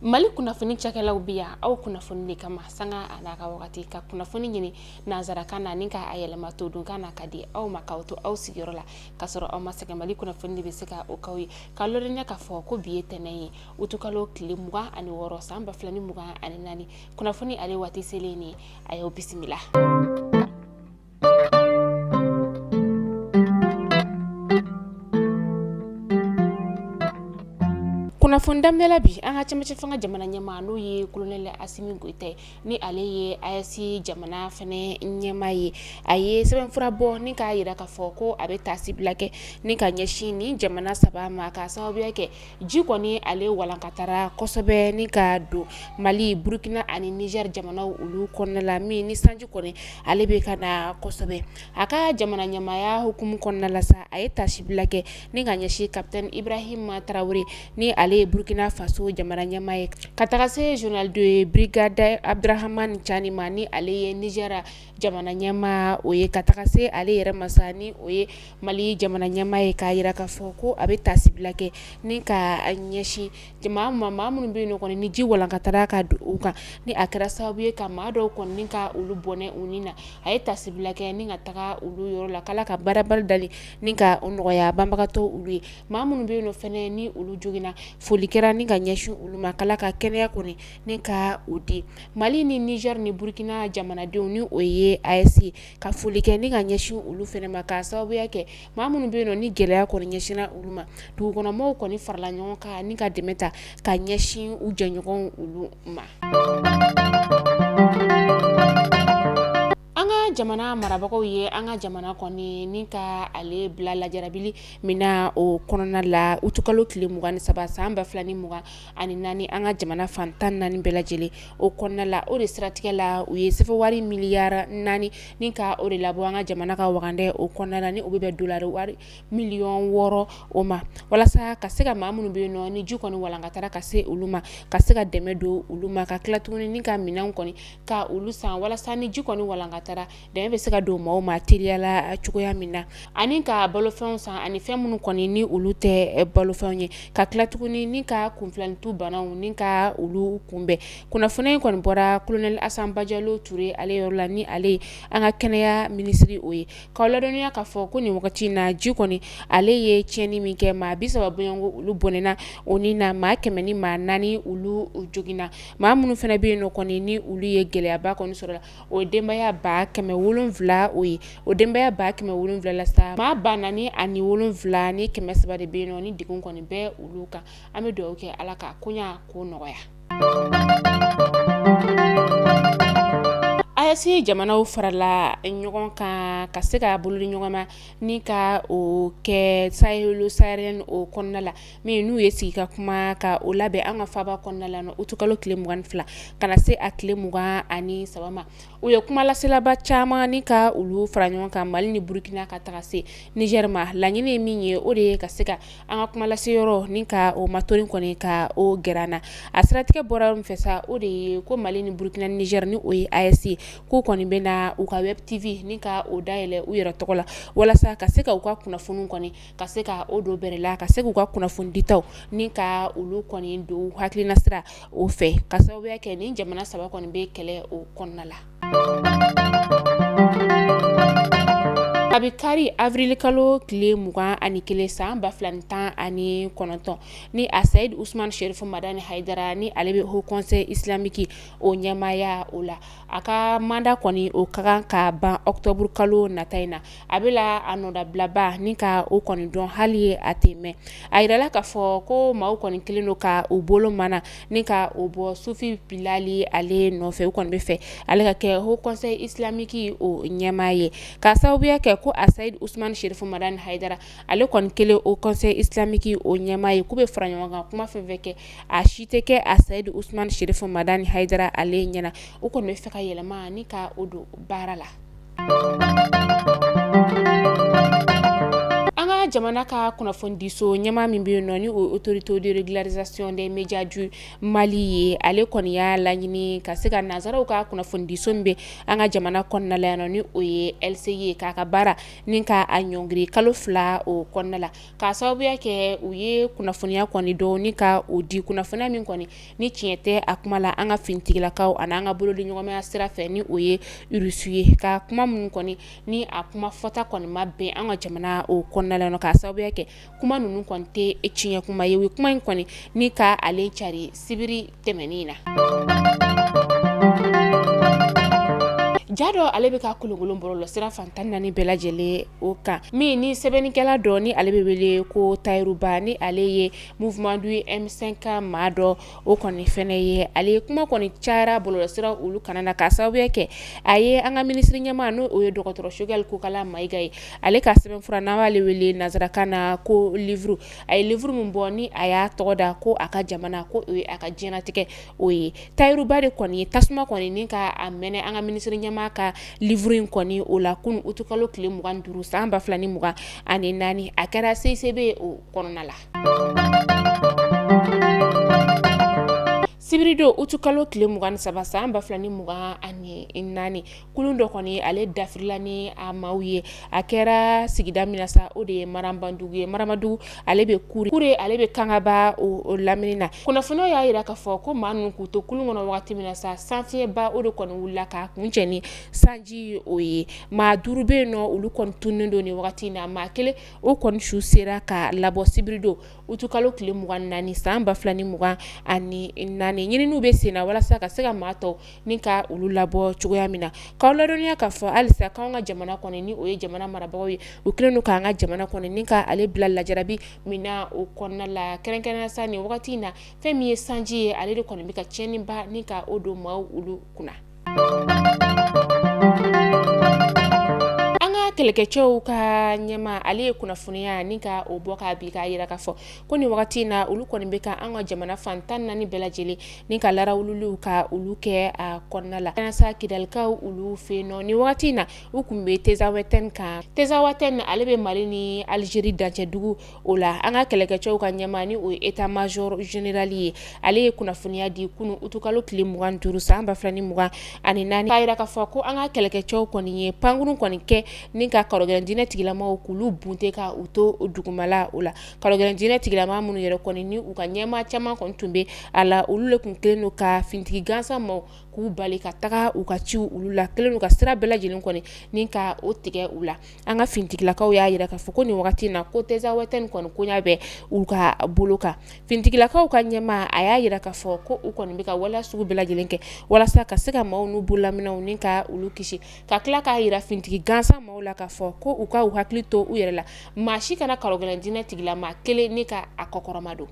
mali kunnafoni cakɛlaw bɛ yan aw kunnafoni de kama sanga a n'a ka wagati ka kunnafoni ɲini nansarakan na ni ka a yɛlɛma todunkan na ka di aw ma k'aw to aw sigiyɔrɔ la ka sɔrɔ aw ma sɛgɛn mali kunnafoni de bɛ se ka o k'aw ye ka ladɔnniya k'a fɔ ko bi ye tɛnɛn ye utukalo tile mugan ani wɔɔrɔ san ba fila ni mugan ani naani kunnafoni ale waati selen ni a y'aw bisimila kunnafoni daminɛla bi an ka cɛmancɛ fanga jamana ɲɛmaa n'o ye kolonɛli asimi goyita ni ale ye AES jamana fɛnɛ ɲɛmaa ye a ye sɛbɛnfura bɔ ni k'a jira k'a fɔ ko a bɛ taasi bila kɛ ni ka ɲɛsin ni jamana saba ma ka sababuya kɛ ji kɔni ale walankatara kosɛbɛ ni ka don mali burukina ani nizɛri jamanaw olu kɔnɔna la min ni sanji kɔni ale bɛ ka na kosɛbɛ a ka jamana ɲɛmaaya hukumu kɔnɔna la sa a ye tasibila kɛ ni ka ɲɛsin kapitɛni ibrahima tarawele ni ale ye burukina faso jamana ɲɛmaa ye ka taga se zenerali de birigadi abuduramani caani ma ni ale ye nizɛri Jamana ɲɛmaa o ye ka taga se ale yɛrɛ ma sa ni o ye mali jamana ɲɛmaa ye k'a jira k'a fɔ ko a bɛ tasibila kɛ ni ka ɲɛsin jama ma maa minnu bɛ yen nɔ kɔni ni ji walankatara ka don u kan ni a kɛra sababu ye ka maa dɔw kɔni ka olu bɔnɛ u ni na a ye tasibila kɛ ni ka taga olu yɔrɔ la ala ka barabara da ni ka nɔgɔya banbagatɔ olu ye maa minnu bɛ yen nɔ fɛnɛ ni olu joginna foli kɛra ni ka ɲɛsin olu ma ala ka kɛnɛya kɔni ni ka o di mali ni nizɛri ni burukina jamanadenw ni o ye AES ka foli kɛ ni ka ɲɛsin olu fɛnɛ ma ka sababuya kɛ maa minnu bɛ yen nɔ ni gɛlɛya kɔni ɲɛsinna olu ma dugukɔnɔmɔgɔw kɔni farala ɲɔgɔn kan ni ka dɛmɛ ta ka ɲɛsin u jɛɲɔgɔn olu ma an ka jamana marabagaw ye an ka jamana kɔni ni ka ale bila lajarabili min na o kɔnɔna la utukalo tile mugan ni saba san ba fila ni mugan ani naani an ka jamana fan tan naani bɛɛ lajɛlen o kɔnɔna la o de siratigɛ la u ye sefawari miliyari naani ni ka o de labɔ an ka jamana ka wagandɛ o kɔnɔna la ni o bɛ bɛn dolari wari miliyɔn wɔɔrɔ o ma walasa ka se ka maa minnu bɛ nɔ ni ji kɔni walankatara ka se olu ma ka se ka dɛmɛ don olu ma ka tila tuguni ni ka minɛnw kɔni ka olu san walasa ni ji kɔni walankatara dɛmɛ bɛ se ka don maaw ma teliyala cogoya min na ani ka balofɛnw san ani fɛn minnu kɔni ni olu tɛ balofɛn ye ka tila tuguni ni ka kunfilanitu banaw ni ka olu kunbɛn kunnafoni in kɔni bɔra kolonɛli asa bajalo ture ale yɔrɔ la ni ale ye an ka kɛnɛya minisiriri o ye ka ladɔnniya k'a fɔ ko nin wagati in na ji kɔni ale ye tiɲɛni min kɛ maa bi saba bɔɲɔgɔnko olu bɔnɛna u ni na maa kɛmɛ ni maa naani olu joginna maa minnu fana bɛ yen kɔni ni olu ye gɛlɛyaba kɔni sɔrɔ la o denbaya ba kɛmɛ wolonwula o ye o denbaya ba kɛmɛ wolonwula la sa maa ba naani ani wolonwula ni kɛmɛ saba de bɛ yen nɔ ni degun kɔni bɛ olu kan an bɛ dugawu kɛ ala ka koɲa ko nɔgɔya AES jamanaw farala ɲɔgɔn kan ka se ka bolo di ɲɔgɔn ma ni ka o kɛ Sahel saharien o kɔnɔna la min n'u ye sigi ka kuma ka o labɛn an ka faaba kɔnɔna la utu kalo tile mugan ani fila ka na se a tile mugan ani saba u ye kumalaselaba caman ni ka olu fara ɲɔgɔn kan mali ni burukina ka taga se nizɛri ma laɲini ye min ye o de ye ka se ka an ka kumalase yɔrɔ ni ka o ma toon kɔni ka o g na a siratigɛ bɔra min fɛ sa o de ye ko mali ni burukina ni nizɛri ni o ye AES k'u kɔni bɛ na u ka web TV ni ka o dayɛlɛ u yɛrɛ tɔgɔ la walasa ka se ka u ka kunnafoni kɔni ka se ka o don bɛrɛ la ka se k'u ka kunnafoni ditaw ni ka olu kɔni don hakilinasira o fɛ ka sababu kɛ ni jamana saba kɔni bɛ kɛlɛ o kɔnɔna la a bɛ kari avril kalo tile mugan ani kelen san ba fila ni tan ani kɔnɔntɔn ni asayidi usman shɛrifu madani hayidara ni ale bɛ Haut Conseil Islamique o ɲɛmaaya o la a ka manda kɔni o ka kan ka ban ɔkutɔburu kalo nata in na a bɛ la a nɔdabilaba ni ka o kɔni dɔn hali a tɛ mɛn a jirala k'a fɔ ko maaw kɔni kɛlen don ka u bolo mana ni ka o bɔ sufi bilali ale nɔfɛ u kɔni bɛ fɛ ale ka kɛ Haut Conseil Islamique o ɲɛmaa ye ka sababuya kɛ ko asayidi usuman shɛrifu madani hayidara ale kɔni kɛlen Haut Conseil Islamique o ɲɛmaa ye k'u bɛ fara ɲɔgɔn kan kuma fɛn fɛn kɛ a si tɛ kɛ asayidi usman shɛrifu madani hayidara ale ɲɛna o kɔni bɛ fɛ ka yɛlɛma ni ka o don baara la An ka jamana ka kunnafonidiso ɲɛmaa min bɛ yen nɔ ni o ye autorité de régularisation des médias du Mali ye ale kɔni y'a laɲini ka se ka nansaraw ka kunnafonidiso min bɛ an ka jamana kɔnɔna la yan nɔ ni o ye LCI ye k'a ka baara ni ka a ɲɔngiri kalo fila o kɔnɔna la k'a sababuya kɛ u ye kunnafoniya kɔni dɔ ni ka o di kunnafoniya min kɔni ni tiɲɛ tɛ a kuma la an ka finitigilakaw ani an ka bolodiɲɔgɔnmaya sira fɛ ni o ye urusu ye ka kuma minnu kɔni ni a kuma fɔta kɔni ma bɛn an ka jamana o kɔnɔna la k'a sababuya kɛ kuma ninnu kɔni tɛ tiɲɛ kuma ye u ye kuma in kɔni ni ka ale cari sibiri tɛmɛnen in na ja dɔ ale bɛ ka kolonkolon bɔrɔlɔ sira fan tan naani bɛɛ lajɛlen o kan min ni sɛbɛnnikɛla dɔ ni ale bɛ wele ko tayiru ba ni ale ye Mouvement du M5 maa dɔ o kɔni fɛnɛ ye ale ye kuma kɔni cayara bɔlɔlɔ sira olu kana na k'a sababu kɛ a ye an ka minisiri ɲɛmaa n' o ye dɔgɔtɔrɔ Choguel Kokala Mayiga ye ale ka sɛbɛnfura n'an b'ale wele nansarakan na ko livre a ye livre min bɔ ni a y'a tɔgɔ da ko a ka jamana ko o ye a ka diɲɛlatigɛ o ye Tayiru Ba de kɔni ye tasuma kɔni ni ka a mɛnɛ an ka minisiri ɲɛmaa ka livre in kɔni o la kunun utukalo tile mugan ni duuru san ba fila ni mugan ani naani a kɛra CICB o kɔnɔna la sibiridon utukalo tile mugan ni saba san ba fila ni mugan ani naani kulun dɔ kɔni ale dafirila ni a maaw ye a kɛra sigida min na sa o de ye Marambadugu ye Marambadugu ale bɛ Kure ale bɛ kangaba o lamini na kunnafoniyaw y'a yira k'a fɔ ko maa ninnu k'u to kulun kɔnɔ wagati min na sa sanfiyɛnba o de kɔni wulila k'a kuncɛ ni sanji o ye maa duuru bɛ yen nɔ olu kɔni tununnen don nin wagati in na maa kelen o kɔni su sera ka labɔ sibirido utukalo tile mugan ni naani san ba fila ni mugan ani naani ɲininiw bɛ sen na walasa ka se ka maa tɔw ni ka olu labɔ cogoya min na k'aw ladɔnniya k'a fɔ halisa k'an ka jamana kɔni ni o ye jamana marabagaw ye u kɛlen don k'an ka jamana kɔni ni ka ale bila lajarabi min na o kɔnɔna la kɛrɛnkɛrɛnnenya sa nin wagati in na fɛn min ye sanji ye ale de kɔni bɛ ka tiɲɛniba ni ka o don maaw olu kunna An ka kɛlɛkɛcɛw ka ɲɛmaa ale ye kunnafoniya ni ka o bɔ ka bi k'a yira k'a fɔ ko nin wagati in na olu kɔni bɛ ka an ka jamana fan tan naani bɛɛ lajɛlen ni ka larawululiw ka olu kɛ a kɔnɔna la ka na sa kidalikaw olu fɛ yen nɔ nin wagati in na u kun bɛ Tezawatɛni kan Tezawatɛni ale bɛ mali ni alizeri dancɛdugu o la an ka kɛlɛkɛcɛw ka ɲɛmaa ni o ye état major général ye ale ye kunnafoniya di kunun utukalo tile mugan ni duuru san ba fila ni mugan ani naani k'a yira k'a fɔ ko an ka kɛlɛkɛcɛw kɔni ye pankurun kɔni kɛ ni ka karɔgɛlɛn diinɛ tigilamaw k'olu bunte ka u to dugumala o la karɔgɛlɛn diinɛ tigilama minnu yɛrɛ kɔni ni u ka ɲɛmaa caman kɔni tun bɛ a la olu de tun kɛlen don ka finitigi gansan maaw k'u bali ka taga u ka ciw olu la kɛlen don ka sira bɛɛ lajɛlen kɔni ni ka o tigɛ u la an ka finitigilakaw y'a yira k'a fɔ ko nin wagati in na ko Tezawatɛni kɔni koɲa bɛ u ka bolo kan finitigilakaw ka ɲɛmaa a y'a yira k'a fɔ ko u kɔni bɛ ka waleya sugu bɛɛ lajɛlen kɛ walasa ka se ka maaw n'u bololaminɛnw ni ka olu kisi ka tila k'a yira finitigi gansan maaw la k'a fɔ ko u ka u hakili to u yɛrɛ la maa si kana karɔgɛlɛn diinɛ tigilama kelen ni ka a kɔkɔrɔma don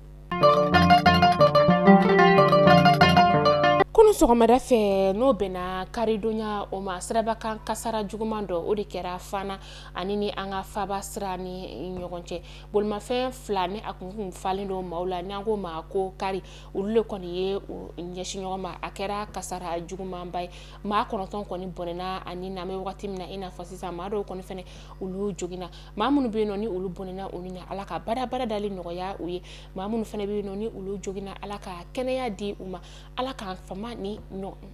kunun sɔgɔmada fɛ n'o bɛnna karidonya o ma sirabakan kasara juguman dɔ o de kɛra fana ani ni an ka faba sira ni ɲɔgɔn cɛ bolimafɛn fila ni a kun falen don maaw la n'an ko ma ko kari olu le kɔni ye u ɲɛsin ɲɔgɔn ma a kɛra kasara jugumanba ye maa kɔnɔntɔn kɔni bɔnɛna a ni na an bɛ wagati min na i n'a fɔ sisan maa dɔw kɔni fɛnɛ olu joginna maa minnu bɛ yen nɔ ni olu bɔnɛna u ni na ala ka badabada dali nɔgɔya u ye maa minnu fɛnɛ bɛ yen nɔ ni olu joginna ala ka kɛnɛya di u ma ala k'an fama ni ɲɔgɔn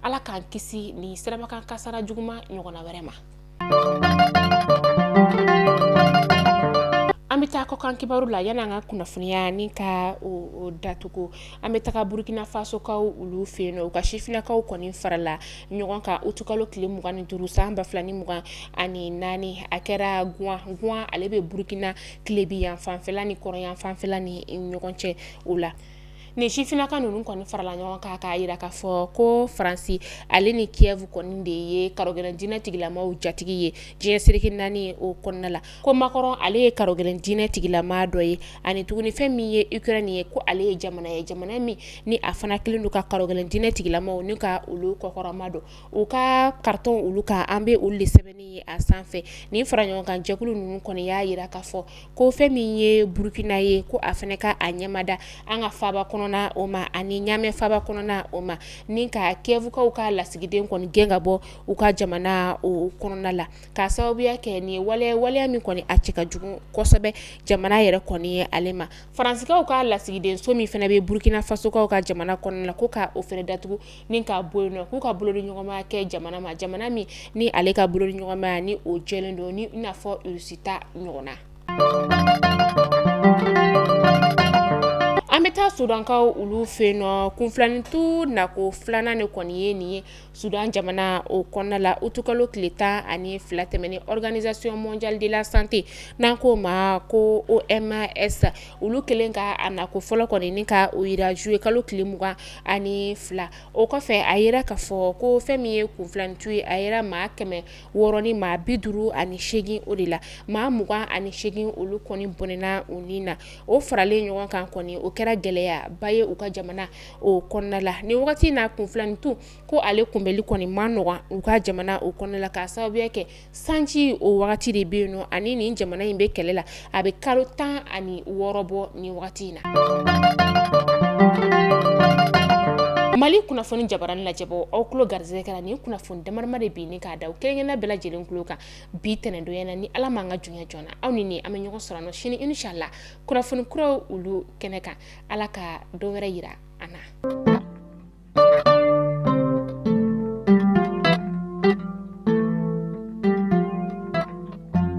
ala k'an kisi ni sirabakan kasara juguman ɲɔgɔnna wɛrɛ ma an bɛ taa kɔkan kibaru la yanni an ka kunnafoniya ni ka o datugu an bɛ taga burukinafasokaw olu fɛ yen nɔ u ka sifinnakaw kɔni farala ɲɔgɔn kan utukalo tile mugan ni duuru san ba fila ni mugan ani naani a kɛra Gaoua ale bɛ burukina tilebin yan fanfɛla ni kɔrɔn yan fanfɛla ni ɲɔgɔn cɛ o la nin sifinnaka ninnu kɔni farala ɲɔgɔn kan k'a yira k'a fɔ ko faransi ale ni Kiev kɔni de ye karɔgɛlɛn diinɛ tigilamaw jatigi ye diɲɛ sereke naani o kɔnɔna la ko Macron ale ye karɔgɛlɛn diinɛ tigilama dɔ ye ani tuguni fɛn min ye Ukraine ye ko ale ye jamana ye jamana min ni a fana kɛlen don ka karɔgɛlɛn diinɛ tigilamaw ni ka olu kɔkɔrɔmadon u ka carton olu kan an bɛ olu de sɛbɛnni ye a sanfɛ ni fara ɲɔgɔn kan jɛkulu ninnu kɔni y'a yira k'a fɔ ko fɛn min ye burukina ye ko a fana ka a ɲɛmada an ka faba kɔnɔna o ma ani ɲamɛ faba kɔnɔna o ma ni ka Kievkaw ka lasigiden kɔni gɛn ka bɔ u ka jamana o kɔnɔna la k'a sababuya kɛ nin ye waleya ye waleya min kɔni a cɛ ka jugu kosɛbɛ jamana yɛrɛ kɔni ye ale ma Faransikaw ka lasigidenso min fana bɛ Burkina fasokaw ka jamana kɔnɔna la ko ka o fɛnɛ datugu ni k'a bɔ yen nɔ k'u ka bolodiɲɔgɔnmaya kɛ jamana ma jamana min ni ale ka bolodiɲɔgɔnmaya ni o jɛlen don ni i n'a fɔ Russie ta ɲɔgɔnna an bɛ taa Sudankaw olu fɛ yen nɔ kunfilanintu nako filanan de kɔni ye nin ye Sudan jamana o kɔnɔna la utukalo tile tan ani fila tɛmɛnen Organisation mondiale de la santé n'an k'o ma ko OMS olu kɛlen ka a nako fɔlɔ kɔni ni ka o yira zuyekalo tile mugan ani fila o kɔfɛ a yira k'a fɔ ko fɛn min ye kunfilanintu ye a yera maa kɛmɛ wɔɔrɔ ni maa bi duuru ani segin o de la maa mugan ani segin olu kɔni bɔnɛna u ni na o faralen ɲɔgɔn kan kɔni o kɛra gɛlɛyaba ye u ka jamana o kɔnɔna la ni wagati na kunfilanintu ko ale kunbɛli kɔni ma nɔgɔ u ka jamana o kɔnɔna la k'a sababuya kɛ sanji o wagati de bɛ yen nɔ ani nin jamana in bɛ kɛlɛ la a bɛ kalo tan ani wɔɔrɔ bɔ ni wagati in na mali kunnafoni jabarani lajɛbaa aw kulo garisɛgɛ kɛra nin kunnafoni damadama de bi ni k'a da kelen kelenna bɛɛ lajɛlen kulo kan bi tɛnɛndonya na ni ala ma an ka junya jɔna aw ni ne an bɛ ɲɔgɔn sɔrɔ sini inshallah kunnafoni kura olu kɛnɛ kan ala ka don wɛrɛ yira an na